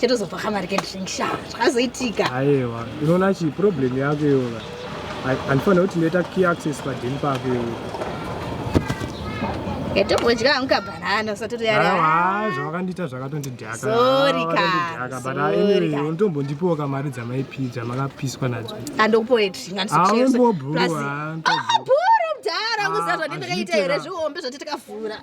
chatozobva kamari kedrink sha zvakazoitika aiwa unoona chi problem yako iyoka andifanira kuti ndoita key access padin pako iyoka yatombodya hangu kabhanana usatoti yarawa zvavakandiita zvakatondidhakaunotombondipiwo kamari dzamaipi dzamakapiswa nadzo andokupoetingausabhuru mdhara kuziva zvandindakaita here zvihombe zvati tikavhura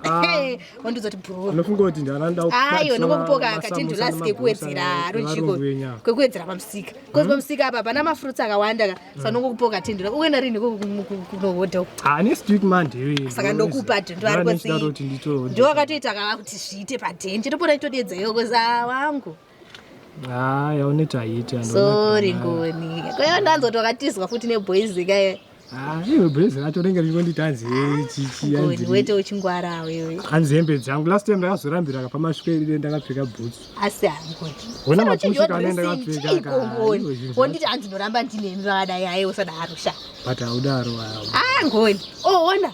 wandizoti bhuru unofunga kuti ndaranda ayo nokupoka akatindu last kekuwedzera ruchiko kwekuwedzera pamusika because hmm? pamusika apa pana mafruits akawanda ka hmm. saka nokupoka tindu uenda rini kunohodha uku ah next week monday saka ndokupa tindu ari kuti ndiwakatoita kava kuti zviite padenje topona itodedza yokoza wangu Ah, yauneti haiiti and Sorry Ngoni. Ko yawe ndanzoti wakatizwa futi neboys kaye. Ah, iwe boys racho rinenge richingonditi hanzi hey chichi Ngoni hanzi. wete uchingwara wewe. Hanzi hembe dzangu last time ndakazorambira kapa masvika iri ndakapfeka boots. Asi hangoni. Hona mapusi kana ndakapfeka ka. Ngoni. Wonditi hanzi ndoramba ndinemi vakadai hayi usadaro sha. But haudaro hawo. Ah Ngoni. Oh ona.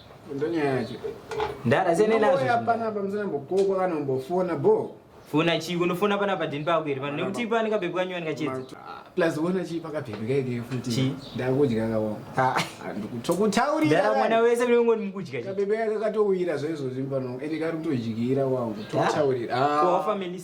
Ndonyaya yacho. Ndara sene nazvo. Hapana pamusana mbokoko kana mbofona bo. Fona chi unofona pana padini pako here vanhu nekuti ipa anika bebe kanyuwa nika chedza. Plus wona chi paka bebe kai ke futi. Chi ndakudya ka wona. Ha ah, ndikutokutauri. Ndara mwana wese mwe ngoni mukudya. Ka bebe yaka katowira zvezo zvimbano. Ende kari kutojikira wangu. Totaurira. Ah. Ko family.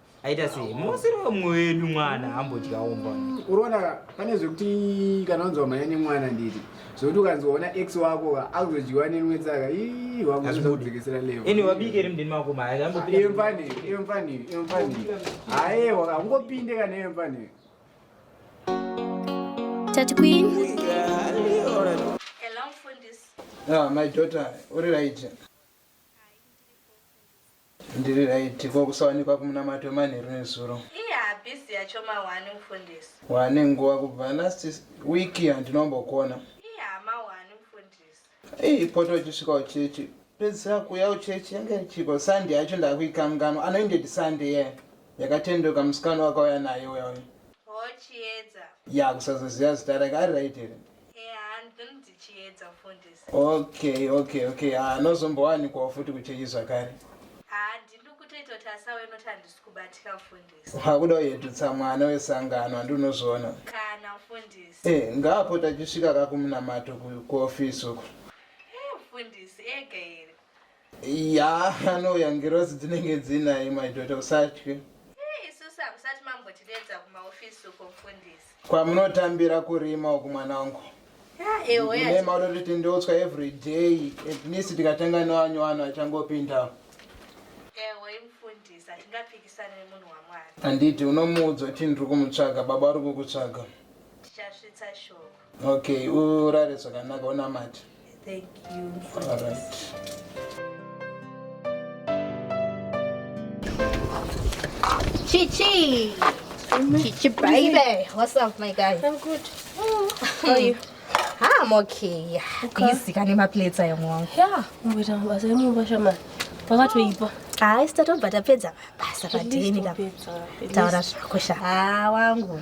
aita sei musiri wemwe wedu mwana ambodyawo mba unoona pane zvekuti kana unzwa mhanya nemwana nditi zvekuti ukanzwaona x wako akuzodyiwa nenwe tsaka iwakudzikisira levo ini wabike ri mdini mako maemfani emfani emfani haewa akungopinde kana emfani Tati Queen. Hello, Fundis. Ah, my daughter, uri right. Ndiri right ko kusawanikwa kumunamato wemanheru nezuro. Iye habhizi yacho mawani mufundisi. Wane nguva kubva last week handinombokuona. Iye hama wani mufundisi. Iyi poto uchisvika uchechi pedzisira kuuya uchechi yange ichiko Sunday yacho ndakuikanganwa anoinded Sunday yeah. Yakatendoka musikana wakauya naye uya uya. Ho chiedza. Ya kusazoziva zita rake ari right here. okay okay okay anozombowanikwawo ah, futi kuchechi zvakare hakuda uyedutsa mwana wesangano handi unozviona eh, ngaapota achisvika kakumunamato kuofisi uko eh, Yaa anouya ngirozi dzinenge dzinaye my daughter usatye. Isusu hamusati mambotideedza kumaofisi uko mfundisi. Kwamunotambira kurima uku mwana wangu. Ewe maudoti tindoutswa every day at least tikatanga newanyu wanhu achangopindawo. Ewe mfundisi hatingapikisane nemunhu waMwari. Handiti unomuudza kuti ndiri kumutsvaga baba vari kukutsvaga. Tichasvitsa shoko. Okay, urare zvakanaka unamati. Thank you. All right. Chichi. Chichi baby. What's up my guy? I'm good. Oh. How are you? Ah, I'm okay. Busy kane ma plates ayo mwangu. Yeah, ngoita mabasa emumba shamani. Pakatoipa. Hayi sita tobva tapedza basa padini ka. Taura zvako sha. Ah, wangu.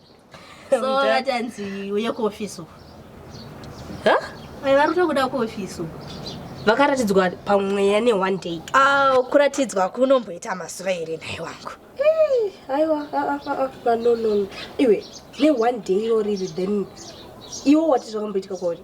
so vatanzi uye kuofisi uku vari tokuda kuofisi uku vakaratidzwa pamweya ne one day ah, kuratidzwa kunomboita mazuva here nhai wangu aiwa ah, ah, vanonono iwe ne one day iro riri then iwo wati zvakamboitika kwauri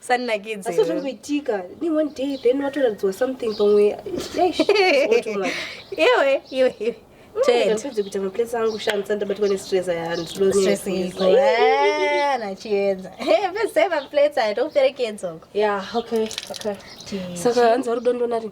sanakidze asi zvingoitika ni one day then watoratidzwa something pamwe iwe iwe iwe ndipedze kuita maplace angu shandisa ndabatwa nestress ayanachiedza pese maplace aya tokuperekedzoko ya okay okay saka hanzi vari dondonari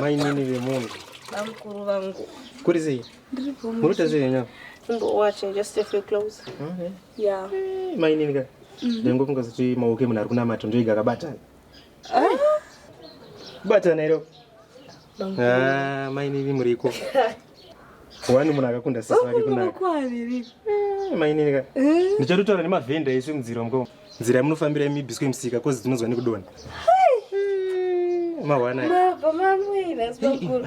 mainini vemunhu bamukuru vangu kuri sei murikuita sei venyama mainini ka ndangofunga kuti maoko emunhu ari kunamata ndoiga akabatana Bata nairo. Ah, mai nini muriko. Wani munhu akakunda sisi vake kunaka. Kwaaviri. Eh, mai nini ka. Eh? Ndichatotaura nemavhenda isu mudziro mko. Nzira yamunofambira imibiswe musika kozi dzinonzwa nekudona. Mawana. Baba mamwe nasibakuru.